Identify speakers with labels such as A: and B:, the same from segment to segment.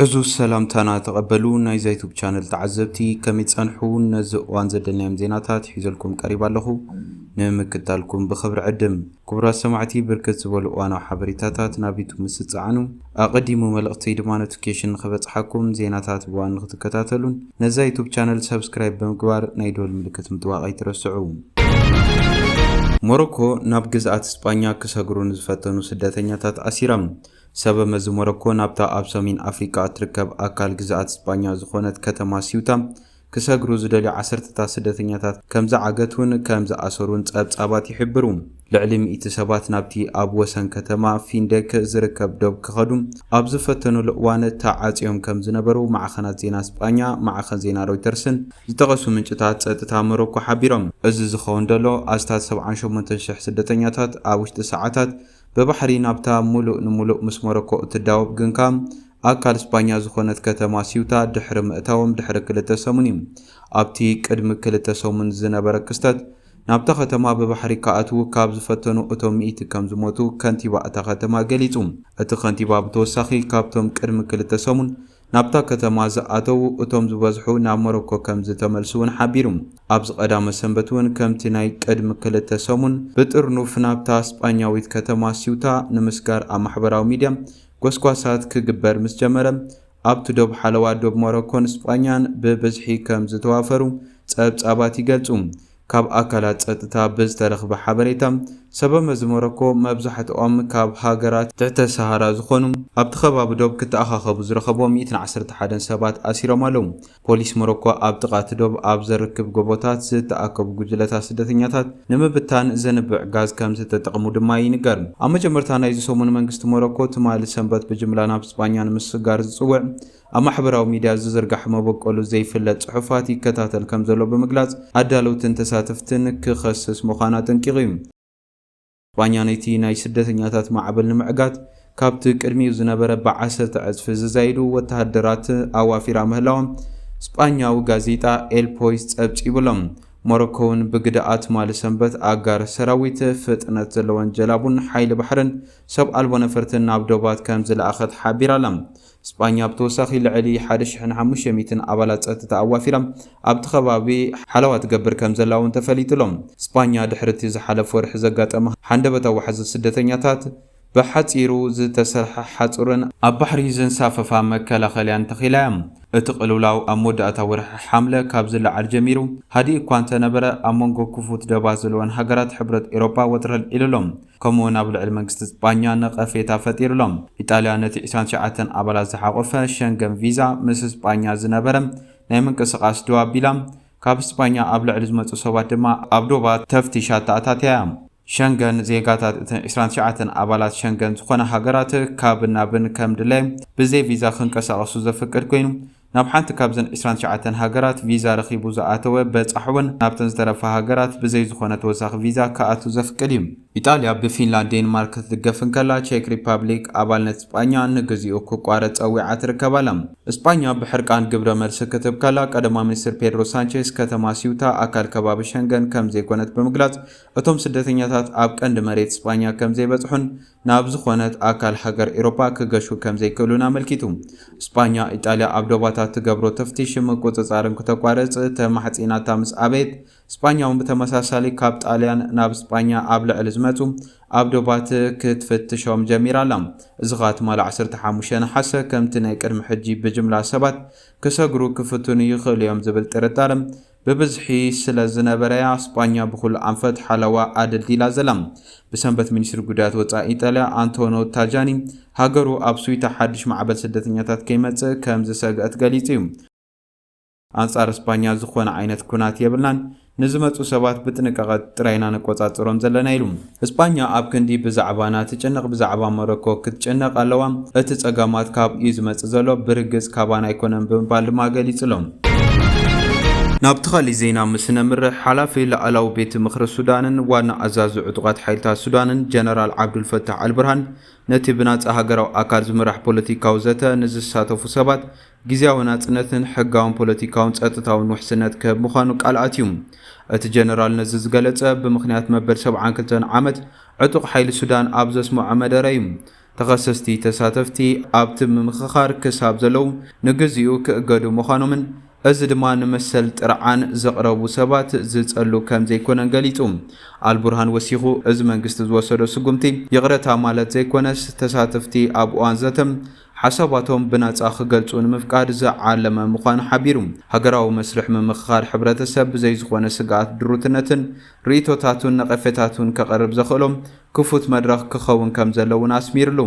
A: ዕዙዝ ሰላምታና ተቐበሉ ናይ ዛይቱብ ቻነል ተዓዘብቲ ከመይ ጸንሑ ነዚ እዋን ዘደናዮም ዜናታት ሒዘልኩም ቀሪብ ኣለኹ ንምክታልኩም ብኽብሪ ዕድም ክቡራት ሰማዕቲ ብርክት ዝበሉ እዋናዊ ሓበሬታታት ናብ ዩቱብ ምስ ትጸዓኑ ኣቐዲሙ መልእኽተይ ድማ ኖቲፊኬሽን ንኽበጽሓኩም ዜናታት ብዋን ንኽትከታተሉን ነዛ ዩቱብ ቻነል ሰብስክራይብ ብምግባር ናይ ዶል ምልክት ምጥዋቕ ኣይትረስዑ ሞሮኮ ናብ ግዝኣት ስጳኛ ክሰግሩ ንዝፈተኑ ስደተኛታት ኣሲራ ሰበመዚ ሞሮኮ ናብታ ኣብ ሰሜን ኣፍሪቃ እትርከብ ኣካል ግዝኣት ስጳኛ ዝዀነት ከተማ ሲውታ ክሰግሩ ዝደልዩ ዓሰርተታት ስደተኛታት ከም ዝዓገቱን ከም ዝኣሰሩን ጸብጻባት ይሕብሩ። ልዕሊ ሚእቲ ሰባት ናብቲ ኣብ ወሰን ከተማ ፊንዴክ ዝርከብ ዶብ ክኸዱ ኣብ ዝፈተኑሉ እዋን ተዓጽዮም ከም ዝነበሩ ማዕኸናት ዜና ስጳኛ፣ ማዕኸን ዜና ሮይተርስን ዝጠቐሱ ምንጭታት ጸጥታ ሞሮኮ ሓቢሮም። እዚ ዝኸውን ዘሎ ኣስታት ሰብዓን ሸሞንተን ሽሕ ስደተኛታት ኣብ ውሽጢ ሰዓታት ብባሕሪ ናብታ ምሉእ ንምሉእ ምስ ሞሮኮ እትዳወብ ግንከኣ ኣካል ስጳኛ ዝኾነት ከተማ ሲውታ ድሕሪ ምእታዎም ድሕሪ ክልተ ሰሙን እዩ። ኣብቲ ቅድሚ ክልተ ሰሙን ዝነበረ ክስተት፣ ናብታ ከተማ ብባሕሪ ክኣትዉ ካብ ዝፈተኑ እቶም ሚእቲ ከም ዝሞቱ ከንቲባ እታ ከተማ ገሊጹ። እቲ ከንቲባ ብተወሳኺ ካብቶም ቅድሚ ክልተ ሰሙን ናብታ ከተማ ዝኣተዉ እቶም ዝበዝሑ ናብ ሞሮኮ ከም ዝተመልሱ'ውን ሓቢሩ። ኣብዚ ቀዳመ ሰንበት'ውን ከምቲ ናይ ቅድሚ ክልተ ሰሙን ብጥርኑፍ ናብታ ስጳኛዊት ከተማ ሲውታ ንምስጋር ኣብ ማሕበራዊ ሚድያ ጎስጓሳት ክግበር ምስ ጀመረ ኣብቲ ዶብ ሓለዋ ዶብ ሞሮኮን ስጳኛን ብብዝሒ ከም ዝተዋፈሩ ጸብጻባት ይገልጹ። ካብ ኣካላት ጸጥታ ብዝተረኽበ ሓበሬታ፣ ሰበመዚ ሞሮኮ መብዛሕትኦም ካብ ሃገራት ትሕተ ሰሃራ ዝኾኑ ኣብቲ ከባቢ ዶብ ክተኣኻኸቡ ዝረኸብዎ ሚእትን ዓሰርተ ሓደን ሰባት ኣሲሮም ኣለዉ። ፖሊስ ሞሮኮ ኣብ ጥቓ እቲ ዶብ ኣብ ዘርክብ ጎቦታት ዝተኣከቡ ጉጅለታት ስደተኛታት ንምብታን ዘንብዕ ጋዝ ከምዝተጠቐሙ ድማ ይንገር። ኣብ መጀመርታ ናይዚ ሰሙን መንግስቲ ሞሮኮ ትማሊ ሰንበት ብጅምላ ናብ ስጳኛ ንምስግጋር ዝጽውዕ ኣብ ማሕበራዊ ሚድያ ዝዝርጋሕ መበቆሉ ዘይፍለጥ ፅሑፋት ይከታተል ከምዘሎ ብምግላፅ ኣዳለውትን ተሳተፍትን ክኸስስ ምዃኑ ኣጠንቂቑ እዩ። ስጳኛ ነቲ ናይ ስደተኛታት ማዕበል ንምዕጋት ካብቲ ቅድሚኡ ዝነበረ ብዓሰርተ ዕፅፊ ዝዛይዱ ወተሃደራት ኣዋፊራ ምህላዋ ስጳኛዊ ጋዜጣ ኤል ፖይስ ፀብፂቡ ኣሎ። ሞሮኮ እውን ብግደኣ ትማሊ ሰንበት ኣጋር ሰራዊት፣ ፍጥነት ዘለወን ጀላቡን ሓይሊ ባሕርን ሰብ ኣልቦ ነፈርትን ናብ ዶባት ከምዝለኣኸት ሓቢራ ኣላ። ስጳኛ ብተወሳኺ ልዕሊ ሓደ ሽሕን ሓሙሽተ ሚእትን ኣባላት ጸጥታ ኣዋፊራ ኣብቲ ከባቢ ሓለዋ ትገብር ከምዘላ'ውን ተፈሊጡ'ሎ። ስጳኛ ድሕሪ'ቲ ዝሓለፈ ወርሒ ዘጋጠመ ሃንደበታዊ ዋሕዚ ስደተኛታት ብሓጺሩ ዝተሰርሐ ሓጹርን ኣብ ባሕሪ ዘንሳፈፋ መከላኸልያን ተኺላ'ያ። እቲ ቅልውላው ኣብ መወዳእታ ወርሒ ሓምለ ካብ ዝለዓል ጀሚሩ ሃዲኡ'ኳ እንተነበረ ኣብ መንጎ ክፉት ደባት ዘለወን ሃገራት ሕብረት ኤሮጳ ወጥሪ ኣልዒሉ'ሎ። ከምኡ'ውን ኣብ ልዕሊ መንግስቲ ስጳኛ ነቐፌታ ፈጢሩ ኣሎ። ኢጣልያ ነቲ ዕስራን ትሽዓተን ኣባላት ዝሓቖፈ ሸንገን ቪዛ ምስ ስጳኛ ዝነበረ ናይ ምንቅስቓስ ደው ኣቢላ፣ ካብ ስጳኛ ኣብ ልዕሊ ዝመጹ ሰባት ድማ ኣብ ዶባት ተፍትሽ ኣተኣታትያ እያ። ሸንገን፣ ዜጋታት እተን ዕስራን ትሽዓተን ኣባላት ሸንገን ዝኾና ሃገራት ካብን ናብን ከም ድላዮም ብዘይ ቪዛ ክንቀሳቐሱ ዘፍቅድ ኮይኑ፣ ናብ ሓንቲ ካብዘን ዕስራን ትሽዓተን ሃገራት ቪዛ ረኺቡ ዝኣተወ በጻሒ ውን ናብተን ዝተረፋ ሃገራት ብዘይ ዝኾነ ተወሳኺ ቪዛ ክኣቱ ዘፍቅድ እዩ። ኢጣልያ ብፊንላንድ ዴንማርክ ክትድገፍ እንከላ ቼክ ሪፓብሊክ ኣባልነት እስጳኛ ንግዚኡ ክቋረጽ ጸዊዓ ትርከብ ኣላ። እስጳኛ ብሕርቃን ግብረ መልሲ ክትህብ ከላ ቀደማ ሚኒስትር ፔድሮ ሳንቼዝ ከተማ ሲውታ ኣካል ከባቢ ሸንገን ከምዘይኮነት ብምግላጽ እቶም ስደተኛታት ኣብ ቀንዲ መሬት እስጳኛ ከምዘይበጽሑን ናብ ዝኾነት ኣካል ሃገር ኤሮፓ ክገሹ ከምዘይክእሉን ኣመልኪቱ። ስጳኛ፣ ኢጣልያ ኣብ ዶባታ ትገብሮ ተፍቲሽን ምቁጽጻርን ክተቋርጽ ተማሕጺናታ ምስ ኣበየት፣ ስጳኛ'ውን ብተመሳሳሊ ካብ ጣልያን ናብ ስጳኛ ኣብ ልዕሊ ዝመጹ ኣብ ዶባት ክትፍትሾም ጀሚራ ኣላ። እዚ ከኣ ትማሊ ዓሰርተ ሓሙሽተ ነሓሰ ከምቲ ናይ ቅድሚ ሕጂ ብጅምላ ሰባት ክሰግሩ ክፍትኑ ይኽእሉ እዮም ዝብል ጥርጣረ ብብዝሒ ስለ ዝነበረ'ያ ስጳኛ ብኹሉ ኣንፈት ሓለዋ ኣደልዲላ ዘላ። ብሰንበት ሚኒስትሪ ጉዳያት ወጻኢ ኢጣልያ ኣንቶኖ ታጃኒ፣ ሃገሩ ኣብ ስዊታ ሓድሽ ማዕበል ስደተኛታት ከይመጽእ ከም ዝሰግአት ገሊጹ'ዩ። ኣንጻር ስጳኛ ዝኾነ ዓይነት ኵናት የብልናን፣ ንዝመጹ ሰባት ብጥንቃቐ ጥራይ ኢና ንቈጻጸሮም ዘለና ኢሉ። እስጳኛ ኣብ ክንዲ ብዛዕባና ትጭነቅ ብዛዕባ ሞሮኮ ክትጭነቅ ኣለዋ፣ እቲ ጸገማት ካብኡ'ዩ ዝመጽእ ዘሎ፣ ብርግጽ ካባና ኣይኮነን ብምባል ድማ ገሊጹ'ሎ። ናብቲ ካልእ ዜና ምስ ነምርሕ፣ ሓላፊ ላኣላዊ ቤት ምኽሪ ሱዳንን ዋና ኣዛዚ ዕጡቓት ሓይልታት ሱዳንን ጀነራል ዓብዱልፈታሕ ኣልብርሃን ነቲ ብናጻ ሃገራዊ ኣካል ዝምራሕ ፖለቲካዊ ዘተ ንዝሳተፉ ሰባት ግዝያዊ ናጽነትን ሕጋውን ፖለቲካውን ጸጥታውን ውሕስነት ክህብ ምዃኑ ቃል ኣትዩ። እቲ ጀነራል ነዚ ዝገለጸ፣ ብምኽንያት መበል ሰብዓን ክልተን ዓመት ዕጡቕ ሓይሊ ሱዳን ኣብ ዘስመዖ መደረ እዩ። ተኸሰስቲ ተሳተፍቲ ኣብቲ ምምኽኻር ክሳብ ዘለዉ ንግዚኡ ክእገዱ ምዃኖምን እዚ ድማ ንመሰል ጥርዓን ዘቕረቡ ሰባት ዝጸሉ ከም ዘይኮነን ገሊጹ። ኣልቡርሃን ወሲኹ፣ እዚ መንግስቲ ዝወሰዶ ስጉምቲ ይቕረታ ማለት ዘይኮነስ፣ ተሳተፍቲ ኣብ እዋን ዘተ ሓሳባቶም ብናጻ ክገልጹ ንምፍቃድ ዝዓለመ ምዃኑ ሓቢሩ፣ ሃገራዊ መስርሕ ምምኽኻር ሕብረተሰብ ብዘይ ዝኾነ ስግኣት ድሩትነትን ርእይቶታቱን ነቐፌታቱን ከቕርብ ዘኽእሎም ክፉት መድረኽ ክኸውን ከምዘለዎ እውን ኣስሚርሉ።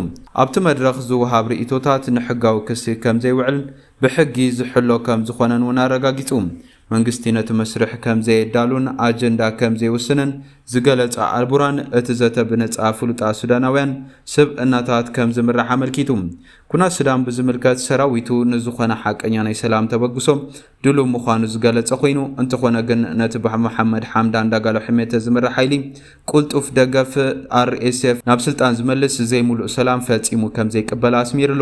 A: ኣብቲ መድረኽ ዝወሃብ ርእይቶታት ንሕጋዊ ክሲ ከምዘይውዕልን ብሕጊ ዝሕሎ ከምዝኾነን እውን ኣረጋጊጹ። መንግስቲ ነቲ መስርሕ ከም ዘየዳሉን ኣጀንዳ ከም ዘይውስንን ዝገለጻ ኣልቡራን፣ እቲ ዘተ ብነጻ ፍሉጣት ሱዳናውያን ስብእናታት ከም ዝምራሕ ኣመልኪቱ። ኩናት ሱዳን ብዝምልከት ሰራዊቱ ንዝኾነ ሓቀኛ ናይ ሰላም ተበግሶ ድሉው ምዃኑ ዝገለጸ ኮይኑ፣ እንተኾነ ግን ነቲ ብመሓመድ ሓምዳን ዳጋሎ ሕሜተ ዝምራሕ ሓይሊ ቁልጡፍ ደገፍ፣ RSF፣ ናብ ስልጣን ዝመልስ ዘይምሉእ ሰላም ፈጺሙ ከም ዘይቅበል ኣስሚርሉ።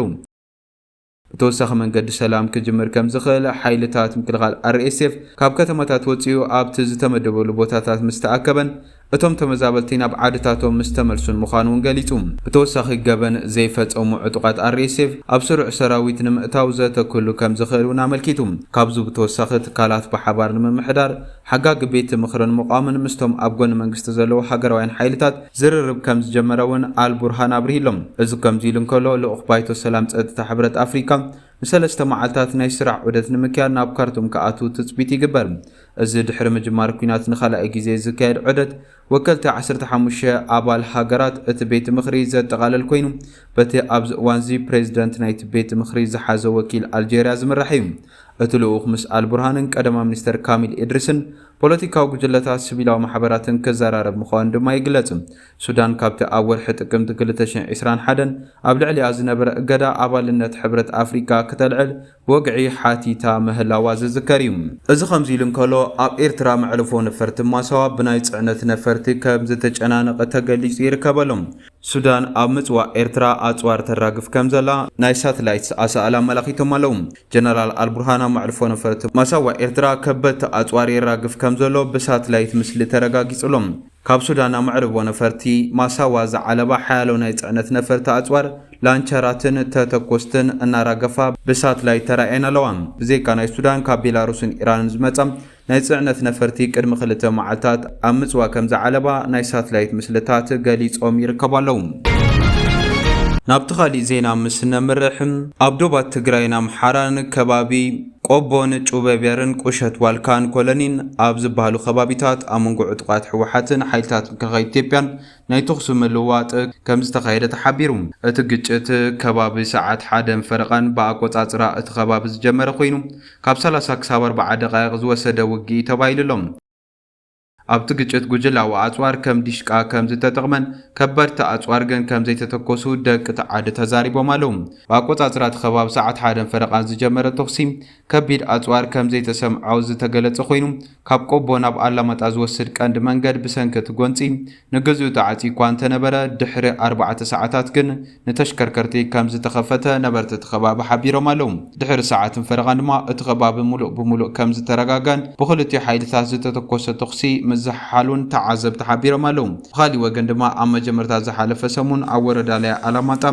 A: ብተወሳኺ መንገዲ ሰላም ክጅምር ከምዝኽእል ሓይልታት ምክልኻል RSF ካብ ከተማታት ወጺኡ ኣብቲ ዝተመደበሉ ቦታታት ምስ ተኣከበን እቶም ተመዛበልቲ ናብ ዓድታቶም ምስ ተመልሱን ምዃኑ እውን ገሊጹ። ብተወሳኺ ገበን ዘይፈጸሙ ዕጡቓት RSF ኣብ ስሩዕ ሰራዊት ንምእታው ዘተ ክህሉ ከምዝኽእል እውን ኣመልኪቱ። ካብዚ ብተወሳኺ ትካላት ብሓባር ንምምሕዳር፣ ሓጋጊ ቤት ምኽርን ምቛምን ምስቶም ኣብ ጎኒ መንግስቲ ዘለዉ ሃገራውያን ሓይልታት ዝርርብ ከም ዝጀመረ እውን ኣል ቡርሃን ኣብሪህሎ። እዚ ከምዚ ኢሉ እንከሎ፣ ልኡኽ ባይቶ ሰላም ጸጥታ ሕብረት ኣፍሪቃ ንሰለስተ መዓልታት ናይ ስራሕ ዑደት ንምክያድ ናብ ካርቱም ክኣትው ትጽቢት ይግበር። እዚ ድሕሪ ምጅማር ኲናት ንኻልኣይ ግዜ ዝካየድ ዑደት ወከልቲ ዓሰርተ ሓሙሽተ ኣባል ሃገራት እቲ ቤት ምኽሪ ዘጠቓልል ኮይኑ፣ በቲ ኣብዚ እዋንዚ ፕሬዚደንት ናይቲ ቤት ምኽሪ ዝሓዘ ወኪል ኣልጀርያ ዝምራሕ እዩ። እቲ ልኡኽ ምስ ኣልቡርሃንን ቀዳማይ ሚኒስተር ካሚል ኢድሪስን ፖለቲካዊ ጉጅለታት፣ ስቪላዊ ማሕበራትን ክዘራረብ ምዃኑ ድማ ይግለጽ። ሱዳን ካብቲ ኣብ ወርሒ ጥቅምቲ ክልተ ሽሕን ዕስራን ሓደን ኣብ ልዕሊኣ ዝነበረ እገዳ ኣባልነት ሕብረት ኣፍሪቃ ክተልዕል ወግዒ ሓቲታ ምህላዋ ዝዝከር እዩ። እዚ ከምዚ ኢሉ እንከሎ፣ ኣብ ኤርትራ መዕርፎ ነፈርቲ ማሳዋ ብናይ ጽዕነት ነፈርቲ ከምዝተጨናነቐ ተገሊጹ ይርከብ ኣሎ። ሱዳን ኣብ ምጽዋዕ ኤርትራ ኣጽዋር ተራግፍ ከምዘላ ናይ ሳትላይት ኣሳእል ኣመላኺቶም ኣለዉ። ጀነራል ኣልቡርሃን ኣብ መዕርፎ ነፈርቲ ማሳዋ ኤርትራ ከበድቲ ኣጽዋር የራግፍ ከምዘሎ ብሳትላይት ምስሊ ተረጋጊጹ ኣሎ። ካብ ሱዳን ኣማዕርቦ ነፈርቲ ማሳዋ ዝዓለባ ሓያሎ ናይ ጽዕነት ነፈርቲ ኣጽዋር፣ ላንቸራትን ተተኮስትን እናራገፋ ብሳትላይት ተራእየን ኣለዋ። ብዘይካ ናይ ሱዳን ካብ ቤላሩስን ኢራንን ዝመጻ ናይ ጽዕነት ነፈርቲ ቅድሚ ክልተ መዓልታት ኣብ ምጽዋ ከም ዝዓለባ ናይ ሳትላይት ምስልታት ገሊጾም ይርከቡ ኣለዉ። ናብቲ ካሊእ ዜና ምስ ነምርሕ፣ ኣብ ዶባት ትግራይን ኣምሓራን ከባቢ፣ ቆቦን ጩበቤርን ቁሸት ዋልካን ኮለኒን ኣብ ዝበሃሉ ከባቢታት ኣብ መንጎ ዕጡቓት ህወሓትን ሓይልታት ምክልኻል ኢትዮጵያን ናይ ተኹሲ ምልውዋጥ ከምዝተኻየደ ተሓቢሩ። እቲ ግጭት ከባቢ ሰዓት ሓደን ፈረቓን ብኣቆፃፅራ እቲ ከባቢ ዝጀመረ ኮይኑ ካብ ሰላሳ ክሳብ ኣርባዓ ደቓይቕ ዝወሰደ ውግእ'ዩ ተባሂሉ'ሎ። ኣብቲ ግጭት ጉጅላዊ ኣጽዋር ከም ዲሽቃ ከም ዝተጠቕመን ከበድቲ ኣጽዋር ግን ከም ዘይተተኮሱ ደቂ'ቲ ዓዲ ተዛሪቦም ኣለዉ። ብኣቆጻጽራ'ቲ ከባቢ ሰዓት ሓደን ፈረቓን ዝጀመረ ተኹሲ ከቢድ ኣጽዋር ከም ዘይተሰምዖ ዝተገለጸ ኮይኑ፣ ካብ ቆቦ ናብ ኣላማጣ ዝወስድ ቀንዲ መንገድ ብሰንኪ'ቲ ጎንጺ ንገዝኡ ተዓጽዩ'ኳ እንተነበረ፣ ድሕሪ ኣርባዕተ ሰዓታት ግን ንተሽከርከርቲ ከምዝተኸፈተ ነበርቲ'ቲ ከባቢ ሓቢሮም ኣለዉ። ድሕሪ ሰዓትን ፈረቓን ድማ እቲ ከባቢ ምሉእ ብምሉእ ከምዝተረጋጋን ብኽልቲኡ ሓይልታት ዝተተኮሰ ተኹሲ ምዝሕሓሉን ተዓዘብቲ ሓቢሮም ኣለዉ። ብኻሊእ ወገን ድማ ኣብ መጀመርታ ዝሓለፈ ሰሙን ኣብ ወረዳ ላያ ኣላማጣ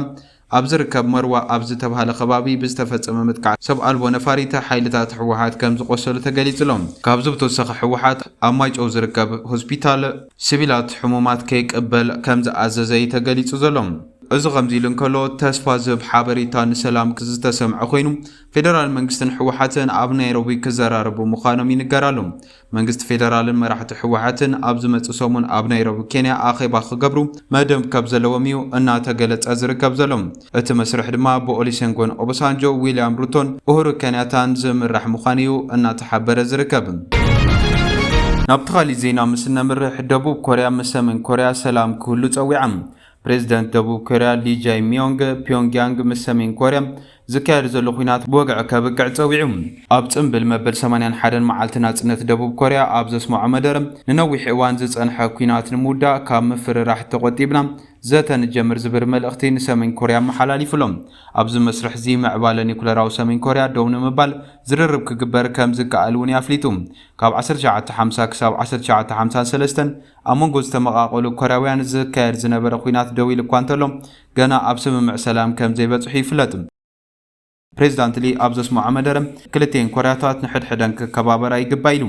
A: ኣብ ዝርከብ መርዋ ኣብ ዝተብሃለ ከባቢ ብዝተፈፀመ መጥቃዕቲ ሰብ ኣልቦ ነፋሪት ሓይልታት ህወሓት ከምዝቖሰሉ ተገሊፁ'ሎ። ካብዚ ብተወሳኺ ህወሓት ኣብ ማይጨው ዝርከብ ሆስፒታል ስቪላት ሕሙማት ከይቅበል ከምዝኣዘዘ'ዩ ተገሊፁ ዘሎ። እዚ ከምዚ ኢሉ እንከሎ ተስፋ ዝህብ ሓበሬታ ንሰላም ዝተሰምዐ ኮይኑ ፌደራል መንግስትን ህወሓትን ኣብ ናይሮቢ ክዘራረቡ ምዃኖም ይንገር ኣሎ። መንግስቲ ፌደራልን መራሕቲ ህወሓትን ኣብ ዝመጽእ ሰሙን ኣብ ናይሮቢ ኬንያ ኣኼባ ክገብሩ መደብ ከም ዘለዎም እዩ እናተገለጸ ዝርከብ ዘሎ። እቲ መስርሕ ድማ ብኦሊሴንጎን ኦቦሳንጆ፣ ዊልያም ሩቶን ኡሁሩ ከንያታን ዝምራሕ ምዃኑ እዩ እናተሓበረ ዝርከብ። ናብቲ ካሊእ ዜና ምስ እነምርሕ፣ ደቡብ ኮርያ ምስ ሰሜን ኮርያ ሰላም ክህሉ ጸዊዓ። ፕሬዝደንት ደቡብ ኮርያ ሊ ጃይ ሚዮንግ፣ ፒዮንግያንግ ምስ ሰሜን ኮርያ ዝካየድ ዘሎ ኲናት ብወግዒ ከብቅዕ ጸዊዑ። ኣብ ጽምብል መበል ሰማንያን ሓደን መዓልቲ ናጽነት ደቡብ ኮርያ ኣብ ዘስመዖ መደረ፣ ንነዊሕ እዋን ዝጸንሐ ኲናት ንምውዳእ ካብ ምፍርራሕ ተቖጢብና ዘተ ንጀምር ዝብር መልእኽቲ ንሰሜን ኮርያ ኣመሓላሊፉ'ሎ። ኣብዚ መስርሕ'ዚ ምዕባለ ኒኩለራዊ ሰሜን ኮርያ ደው ንምባል ዝርርብ ክግበር ከም ዝከኣል'ውን'ዩ ኣፍሊጡ። ካብ ዓሰርተ ትሽዓተ ሓምሳ ክሳብ ዓሰርተ ትሽዓተ ሓምሳን ሰለስተን፣ ኣብ መንጎ ዝተመቓቐሉ ኮርያውያን ዝካየድ ዝነበረ ኲናት ደው ኢሉ'ኳ እንተሎ፣ ገና ኣብ ስምምዕ ሰላም ከም ዘይበጽሑ ይፍለጥ። ፕሬዝዳንት ሊ ኣብ ዘስመዖ መደረ፣ ክልቲኤን ኮርያታት ንሕድሕደን ክከባበራ ይግባእ ኢሉ።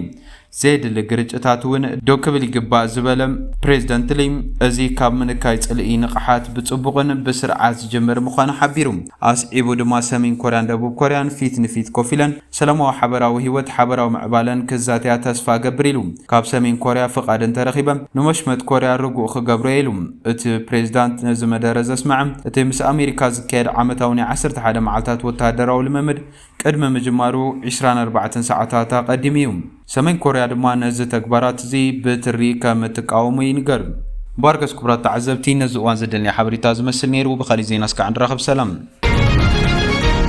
A: ዘየድሊ ግርጭታት'ውን ደው ክብል ይግባእ ዝበለ ፕሬዝደንት ሊ፣ እዚ ካብ ምንካይ ጽልኢ ንቕሓት ብጽቡቕን ብስርዓት ዝጅምር ምዃኑ ሓቢሩ። ኣስዒቡ ድማ ሰሜን ኮርያን ደቡብ ኮርያን ፊት ንፊት ኮፍ ኢለን ሰላማዊ ሓበራዊ ህይወት ሓበራዊ ምዕባለን ክዛተያ ተስፋ እገብር ኢሉ። ካብ ሰሜን ኮርያ ፍቓድ እንተረኺበ፣ ንመሽመጥ ኮርያ ርጉእ ክገብሮ እየ ኢሉ። እቲ ፕሬዚዳንት ነዚ መደረ ዘስመዐ፣ እቲ ምስ ኣሜሪካ ዝካየድ ዓመታዊ ናይ ዓሰርተ ሓደ መዓልታት ወተሃደራዊ ልምምድ ቅድሚ ምጅማሩ ዕስራን ኣርባዕተን ሰዓታት ኣቐዲሙ እዩ። ሰሜን ኮርያ ድማ ነዚ ተግባራት እዚ ብትሪ ከም እትቃወሞ ይንገር። ባርገስ ክቡራት ተዓዘብቲ ነዚ እዋን ዘደልኒ ሓበሬታ ዝመስል ነይሩ ብካሊእ ዜና እስካዕ ንራኸብ ሰላም።